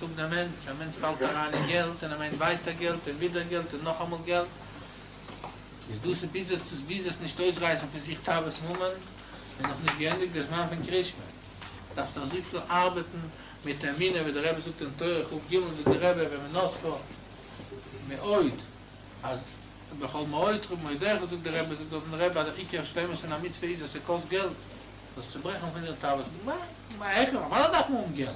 זאגט דער מענטש, א מענטש פאלט אריין אין געלט און ער מיינט ווייטער געלט און ווידער געלט און נאכאמאל געלט, איז דאס ביז עס ביז עס נישט אויסרייסן פון זיך תאוות ממון, און נאך נישט געענדיגט די זמן פון קרישמע, דארף נאך אזויפיל ארבעטן מיט אמונה ווי דער רבי זאגט אין תורה חב ג, זאגט דער רבי ומנוסחו מאוד אז בכל מאודך ובמאודיך, זאגט דער רבי, זאגט דארט דער רבי אז דער עיקר שלימות פון א מצוה איז אז ס'קאסט געלט, דאס צוברעכן פון די תאוות ממון, א העכערן, פארוואס דארף מען האבן געלט?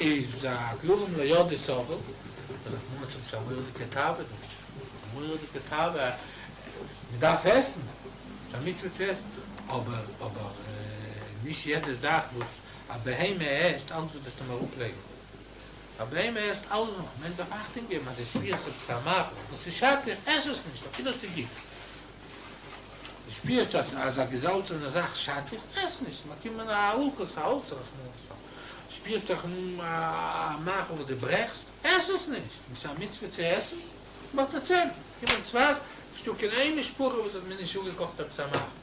איז א דברים ליודעי סובל, אז איך מיין שוין ס'איז א מורא'דיגע תאווה דא, א מורא'דיגע תאווה, מ'דארף עסן, ס'א מצוה צו עסן, אבער אבער נישט יעדע זאך וואס א בהמה עסט, אלץ וואס דארפסטו אים אראפלייגן, א בהמה עסט אלעס, א מענטש דארף אכטונג געבן אז די שפירסט עפעס א מאכל וואס איז שאדליך, עס עס נישט אפילו עס איז גוט, די שפירסט אז אזא געזאלצענע זאך שאדט דיר? עס נישט, מען קומט מיט א האלקע סאלץ רחמנא ליצלן. שפירסט דיך אן א מאכל וואס דו ברעכסט? עס עס נישט, עס איז א מצוה צו עסן. באטעצענטן קומען צווייטנס, נישטא קיין איין משפחה וואס האט מיר נישט אפגעקאכט עפעס א מאכל.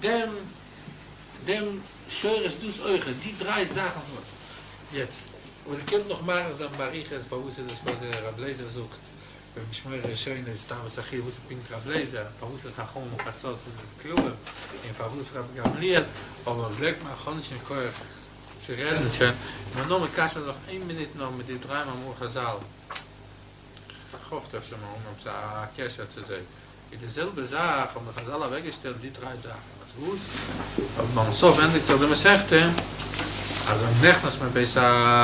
דעם דעם שורש דאס אויכעט, די דריי זאכן פון יעצט, און איר קענט נאך מאריך זיין באריכות פארוואס איז עס וואס דער רב לייזער זאגט ביים משמורה הראשונה איז סתם סחי' וואס איז פונקט רב לייזער פארוואס אין חכמים וחצות איז עס קלאר און פארוואס רבי גמליאל אבער גלייבט מיר איך האב נישט קיין כח צו רעדן שוין מיר נאר מקשר זיך איין מינוט נאר מיט די דריי מאמרי חזל. כ'האף דארף שוין מארגן האבן א קשר צו זיי. איז די זעלבע זאך האבן די חזל אוועק געשטעלט די דריי זאכן אז וואס? אז ביים סוף ענדיגט זיך די מסכתא אז ווען מ'נכנס מבית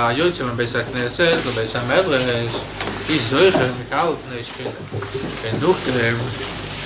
היוצר מן בית הכנסת לבית המדרש איז זוכה מקהל פני שכינה און נאכדעם.